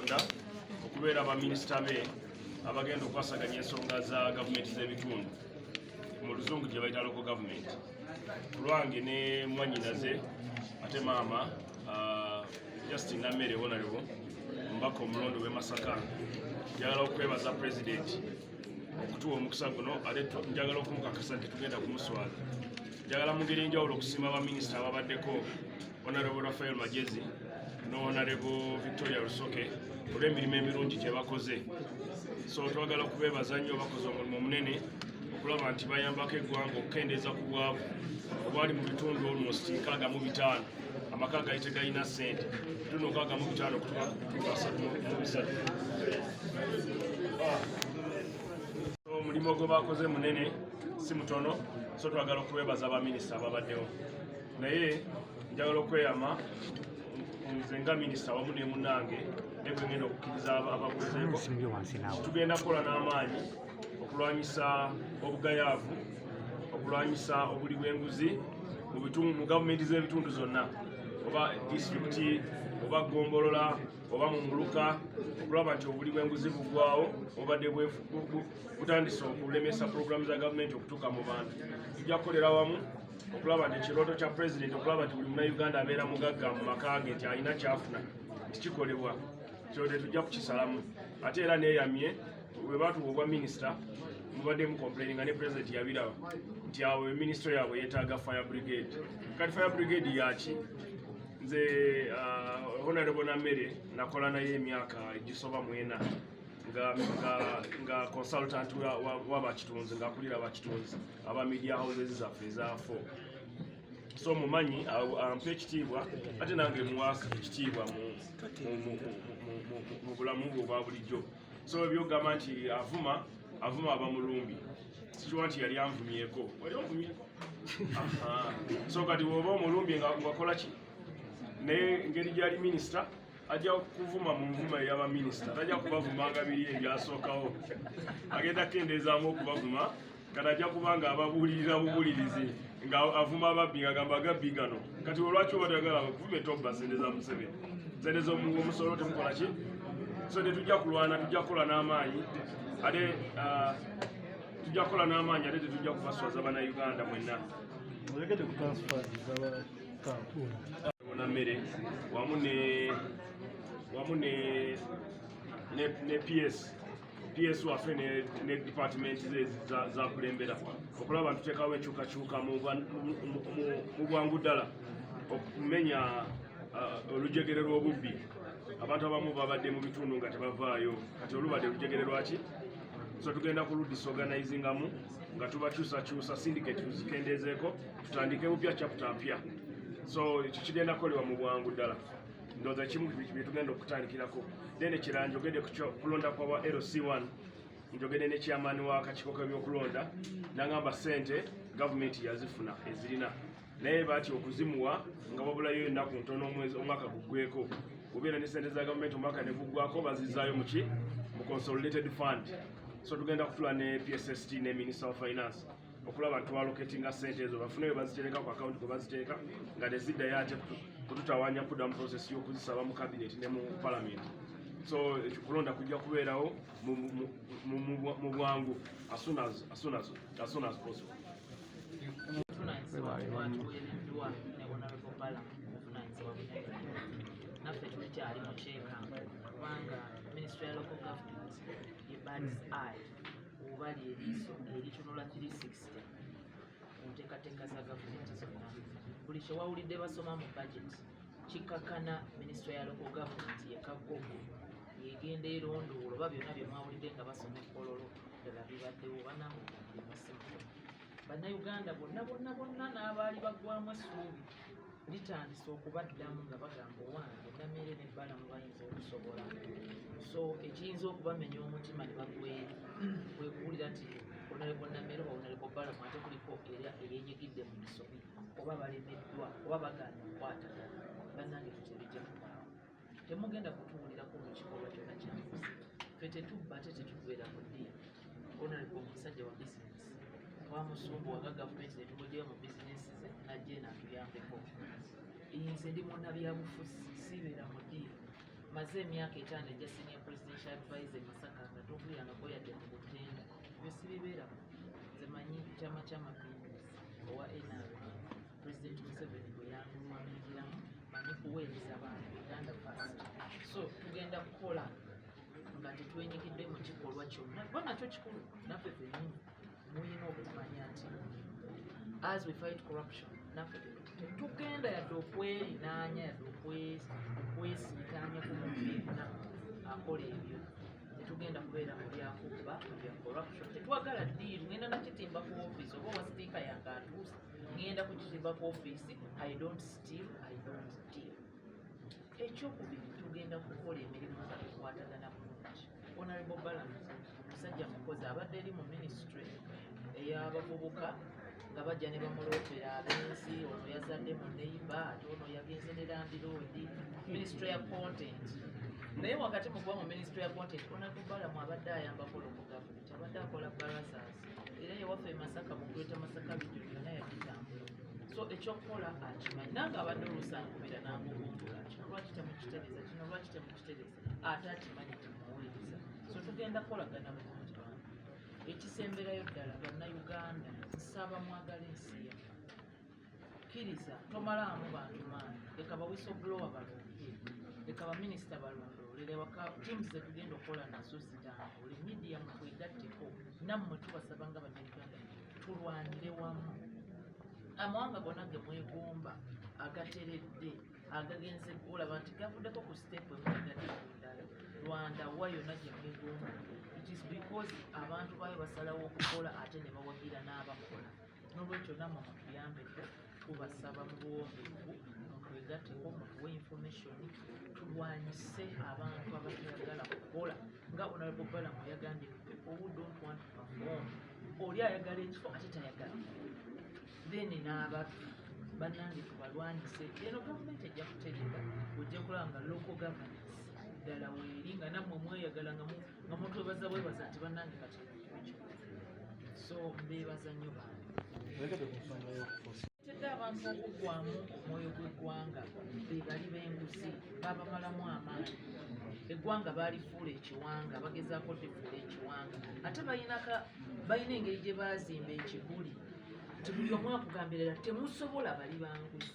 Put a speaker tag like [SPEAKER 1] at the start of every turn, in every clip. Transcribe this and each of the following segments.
[SPEAKER 1] okulonda okubeera baminisita be abagenda okwasaganya ensonga za gavumenti z'ebitundu mu luzungu gye bayita loko gavumenti ku lwange ne mwanyinaze ate maama ah, justin nammere wonalewo omubaka omulonde w'e masaka njagala okwebaza pulezidenti okutuwa omukisa guno ate njagala okumukakasa nti tugenda kumuswaza njagala mu ngeri enjawulo okusiima baminisita ababaddeko Honorable Rafael Magezi no Honorable Victoria Rusoke olw'emirimu emirungi gye bakoze so twagala kubeebaza nnyo bakoze omulimu omunene okulaba nti bayambako eggwanga okukendeeza ku bwavu obwali mu bitundu almost nkaaga mu bitaano amaka gali tegalina ssente tuno nkaaga mu bitaano okutuka ku bitundu asatu mu bisatu omulimu gwe bakoze munene si mutono so twagala okubeebaza baminisita ababaddewo naye njagala okweyama nze nga minisita wamu ne munange ne bwe ngenda okukkiriza ababuzeeko tugenda kukola n'amaanyi okulwanyisa obugayaavu okulwanyisa obuli bw'enguzi mu gavumenti z'ebitundu zonna oba disitulikiti oba gombolola oba mu muluka okulaba nti obuli bw'enguzi bugwawo obadde butandise okulemesa pulogulaamu za gavumenti okutuuka mu bantu tujja kukolera wamu okulaba nti ekirooto kya pulezidenti okulaba nti buli munauganda abeera mugagga mu maka ge nti alina kyafuna tikikolebwa kyo tetujja kukisalamu ate era neyamye bwe batuwa obwa minisita mubaddemu complaini nga ne pulezidenti yabiraba nti awo minisitule yaabwe yeetaaga fire brigade kati fire brigade yaki nze uh, honorable namere nakola naye emyaka egisoba mwena nga consultant wabakitunzi ngaakulira bakitunzi aba media houses zaffe ezaafo so mumanyi ampa ekitiibwa ate nange muwa ekitiibwa mu bulamu bwe obwa bulijjo so ebyogamba nti avuma avuma abamulumbi sikiwa nti yali anvumyeko wali onvumyeko so kati woba omulumbi nga wakola ki naye ngeri gyali minisita ajja kuvuma mu nvuma eyaba minisita tajja kubavumanga biri ebyasookawo agenda kukendeezaamu okubavuma kati ajja kuba nga ababuulirira bubuulirizi nga avuma ababbi nga gamba agabbi gano kati olwaki oba toyagala kuvume tobba sente za museveni sente zomusolo temukola ki so tetujja kulwana tujja kukola n'amaanyi ate ah, tujja kukola n'amaanyi ate tetujja kubaswaza banauganda mwenna
[SPEAKER 2] ona mmere
[SPEAKER 1] wamu ne wamu ne ne ps PS waffe ne, ne department ze zakulembera za okulaba ntuteekawo enkyukakyuka mu bwangu ddala okumenya uh, olujegere lw'obubbi abantu abamu babadde mu bitundu nga tebavaayo kati olubadde olujegere lwaki so tugenda ku ludisorganizingamu nga tubakyusakyusa syndicate tuzikendeezeeko tutandike bupya chapta mpya so ekyo kigenda kukolebwa mu bwangu ddala ndoza kimu byetugenda okutandikirako then ekirala njogede kulonda kwa wa lc1 njogede ne chairman wa kakiko kebyokulonda nangamba sente gavumenti yazifuna ezirina naye bati okuzimuwa nga wabulayo ennaku ntono omwezi omwaka guggweko obeera ne sente za gavumenti omwaka ne guggwako bazizaayo muki mu consolidated fund so tugenda kutula ne psst ne minister of finance okulaba nti twaloketinga sente ezo bafune we bazitereka ku akawunti kwe baziteeka nga teziddayo ate kututawaanya kudda mu prosesi y'okuzisaba mu kabineti ne mu palamenti so kulonda kujja kubeerawo mu bwangu asunazipossible naffe tulikyali
[SPEAKER 3] mukyeka kubanga ministry ya local government ye bad eye oba lyeriiso eritunula 360 mu nteekateeka za gavumenti zonna buli kyewawulidde basoma mu budget kikakana minisitule ya local government yekagogo yegenda erondoola oba byonna byemwawulidde nga basoma ekololo ddala bibaddewo banange omulimu simuto Bannayuganda bonna bonna bonna n'abaali baggwamu essuubi litandise okubaddamu nga bagamba owange namere ne balamu bayinza okusobola so ekiyinza okubamenya omutima ne bagweri kwekuwulira nti onaleko namere oba onaleko balamu ate kuliko era eyenyigidde mu misobi oba balemeddwa oba bagaana okukwatagana bannange tutebijja mubaawo temugenda kutuwulirako mu kikolwa kyona kyanfusi fe tetubba ate tetugwera ku ddiya onalibwa omusajja wa bizinesi twamusumbu waga gavumenti netumujeyo mu bizinesi ze najje natuyambeko nze ndi munabyabufuzi sibeera mu ddiya maze emyaka etaano egya senior presidential advisor e masaka nga tokuyangako yadde mu butenda ebyo sibibeeramu nze manyi kyama kyamapinduzi owa nrm President Museveni bwe yamulwaniriramu mani kuweereza bantu Uganda first so tugenda kukola nga tetwenyigidde mu kikolwa kyonna kuba nakyo kikulu naffe fenyini mulina okumanya nti as we fight corruption naffe tetugenda yadde okwelinaanya yadde okwesiitaanya ku muntu yenna akola ebyo tetugenda kubeera mu byakubba bya corruption tetwagala diiru ngenda nakitimba ku ofiisi oba owasipiika yange atuusa ngenda kukizimba ku ofiisi i don't steal i don't deal ekyokubiri tugenda kukola emirimu zakukwatagana bulungi honorable balance omusajja mukozi abadde eri mu ministry eyabavubuka nga bajja ne bamuloopera abensi ono yazadde mu neiba ate ono yagenze ne landiroodi ministry ya content naye wakati mukuba mu ministry ya content onatubalamu abadde ayambako lokugavu Abadde akola barazas era ewaffe e Masaka mu Greater Masaka region yonna yagitambula so ekyokukola akimanyi nange abadde oluusi ankubira nangubumbula kino lwaki temukitereza kino lwaki temukitereza ate akimanyi temuwuliriza so tugenda kukolagana bulungi bantu ekisemberayo ddala bannayuganda nsaba mwagala ensi yaffe kkiriza tomalaamu bantu maanyi leka bawisoblowa balungi leka baminisita balondoolere waka tiimu zetugenda okukola nazo zitambule midiya mutwegatteko nammwe tubasaba nga bannayuganda tulwanire wamu amawanga gona ge mwegomba agateredde agagenze olaba nti gavuddeko ku siteepu emuagaddala rwanda wa yonna gye mwegomba it is because abantu baayo basalawo okukola ate ne bawagira n'abakola nolwekyo namwe mutuyambeko tubasaba mu buwombeefu mutwegateko mutuwe information tulwanyise abantu abatayagala kukola nga honorable balamu yagambye people who don't want to perform oli ayagala ekifo ate tayagala then n'abatu bannange tubalwanyise eno gavumenti ejja kutegeka ojja kulaba nga local governance ddala weeri nga nammwe mweyagala nga mutwebaza bwebaza nti bannange kati so beebaza nnyo bantu tedde abantu okuggwamu omwoyo gw'eggwanga be bali b'enguzi babamalamu amaanyi eggwanga baalifuula ekiwanga bagezaako lifuula ekiwanga ate balinaka balina engeri gye baazimba ekiguli nti buli omu akugambirira temusobola bali banguzi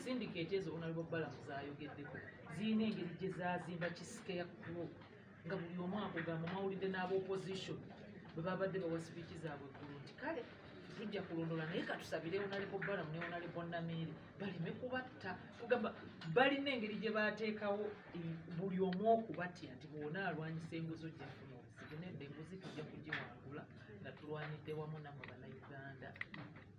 [SPEAKER 3] sindikeeti ezo onalibobalamu zayogeddeko zirina engeri gye zaazimba kisikeya group nga buli omu akugamba mawulidde n'aba opposition bwe babadde bawa sipiiki zaabwe eggulu nti kale tujja kulondola naye katusabire onalebo balamu neonalebo namiire baleme kubatta kugamba balina engeri gye bateekawo buli omu okubatya nti bwona alwanyisa enguzo gyafuna obuzibu nedda enguzi tujja kugiwangula nga tulwanidde wamu namwe banauganda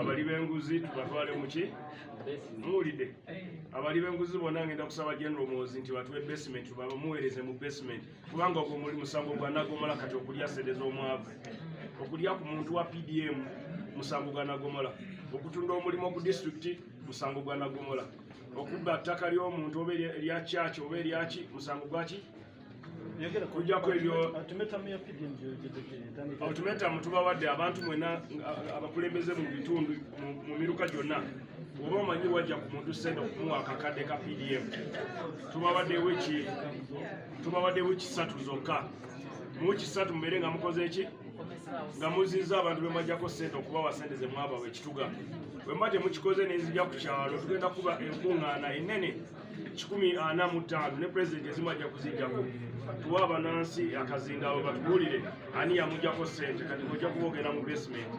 [SPEAKER 1] abali benguzi tubatwale muki muwulidde abali benguzi bona ngenda kusaba general muwozi nti batuwe basement babamuwereze mu basement kubanga ogwo muli musango gwanagomola kati okulya sente z'omwavu okulya ku muntu wa pdm musango gwanagomola okutunda omulimu ku disitulikiti musango gwanagomola okubba ttaka ly'omuntu oba erya kyaki oba eryaki musango gwaki kujjako ebyo ultimatum tubawadde abantu mwena abakulembeze mu bitundu mu miruka gyonna oba omanyi wajja ku muntu sente okumuwa akakadde ka pdm tubawadde wiki satu zokka mu wiki satu mubeere nga mukoze eki nga muziza abantu bemajjako sente okubawa sente zemwaba wekituga bwemba temukikoze nenzija ku kyalo tugenda kuba enkuŋŋaana enene kikumi ana mu ttaano ne pulezidenti ezimu ajja kuzijjako tuwa abanansi akazindaalo batubuulire ani yamujjako ssente kati ng'ojja kuba ogenda mu basementi